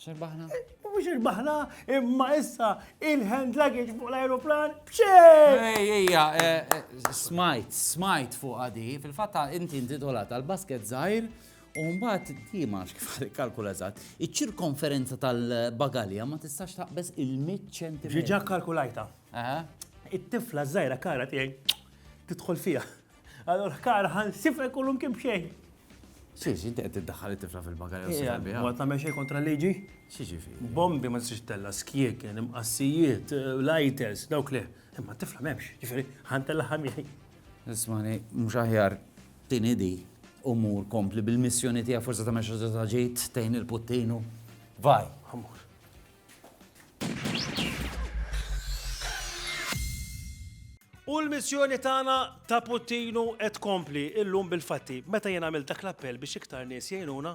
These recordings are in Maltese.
Xirbaħna? Mux xirbaħna, imma issa il-hand luggage fuq l-aeroplan bċej! Ej, ejja, eh, eh, smajt, smajt fuq għadi, fil-fatta inti intitola tal-basket zaħir, u mbagħad di ma kif kalkula eżatt, iċ-ċirkonferenza tal-bagalja ma tistax taqbeż il-100 ċentimetru. Ġiġa kalkulajta. It-tifla żgħira kara tiegħi tidħol fiha. Allora, kara, ħan sifek kullum kim xejn. Xiex, inti qed tiddaħħal it-tifla fil-bagalja u s-sifek biha. Għat nagħmel xejn kontra liġi? Xiex fi. Bombi ma tistax tella, skjek, imqassijiet, lighters, dawk le. Imma t-tifla m'hemmx, ġifieri ħan tella ħamjej. Ismani, mhux aħjar tinidi u mur kompli bil-missjoni tiegħek forsi tagħmel xi ġejt tejn il-puttinu. Vaj. Amur. U l-missjoni tagħna ta' Puttinu qed kompli illum bil-fatti meta jien għamil dak l-appell biex iktar nies jgħinuna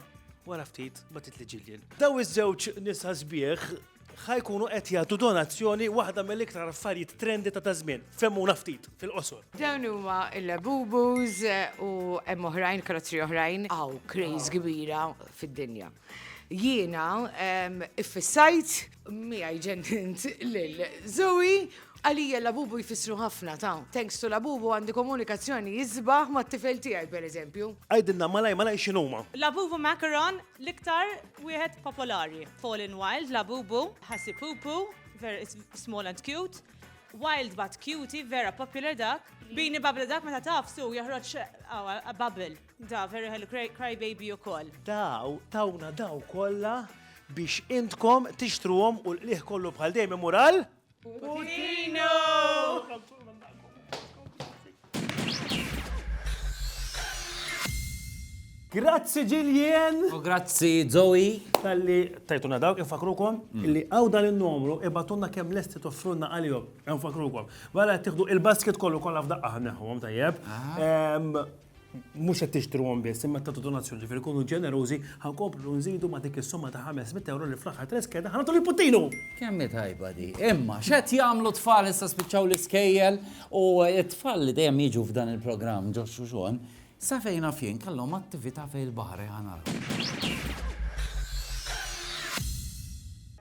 wara ftit ma titli ġiljen. Daw iż-żewġ nisa sbieħ ħajkunu qed jagħtu donazzjoni waħda mill-iktar affarijiet trendi ta' tażmien. Femmuna ftit fil-qosor. Dawn huma l-Labubus u hemm oħrajn, karozzi oħrajn, hawn craze kbira fid-dinja. Jiena iffissajt miegħi ġennint lil Zoe. Għalija Labubu jfissru ħafna ta'. Thanks to Labubu għandi komunikazzjoni isbaħ mat-tifel tiegħi pereżempju. Għidilna malajr malajr x'inhuma. Labubu Macaron l-iktar wieħed popolari. Fall in Wild Labubu, Ħassipupu, ver it's small and cute, Wild but Cutie vera popular dak, Beanie Bubble dak meta tagħfsu jeħroġ bubble. Da, very hello, cry, cry baby u koll. Daw, tawna daw kolla biex intkom tixtruhom u l-qliħ kollu bħal dejjem mural? Putino! Grazzi Ġiljen! U grazzi Zoe! Talli tajtuna dawk, infakrukom mm. li għaw dan il-numru ibatunna kem lesti toffrunna għal-jom, infakrukom. Għala tiħdu il-basket kollu kolla f'daqqa ħanneħu, tajjeb. Ah. mhux qed tixtruhom biss, imma tagħtu donazzjoni ġifieri kunu ġenerużi ħankomplu nżidu ma' dik is-somma ta' 500 euro li fl-aħħar tres keda ħanatu li puttinu. Kemm tajba di. Imma x'qed jagħmlu tfal issa spiċċaw l-iskejjel u t-tfal li dejjem jiġu f'dan il-programm ġo xuxon, sa fejna fien kellhom attività fejn il-baħar ħanara.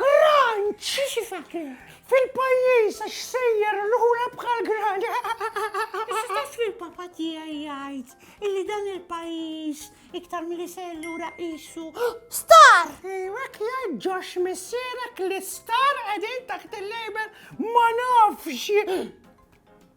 Crunch! Fil-pajjiż għax sejjer l-ħula bħal gran. Issa taf li l-papa tiegħi jgħid illi dan il-pajjiż iktar milli sejjer lura qisu. Star! Ejwek jgħid ġox missierek li star qegħdin taħt il-label ma nafx.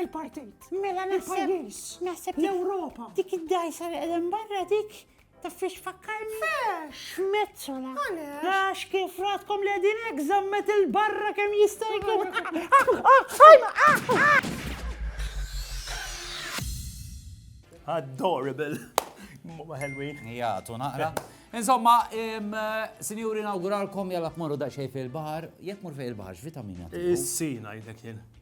Il-partit. Mela naħseb. Naħseb. L-Europa. Dik id-dajsa li għedem barra dik ta' fiex fakkarni. Fiex. Metzola. Għax kif ratkom li għedin egzammet il-barra kem jistajku. Adorable. Ma ħelwin. Ja, tu naqra. Insomma, sinjuri nawguralkom jalla tmorru daqxej fil-bahar, jek mur fej il-bahar, x'vitamina? Is-sina jidek jien.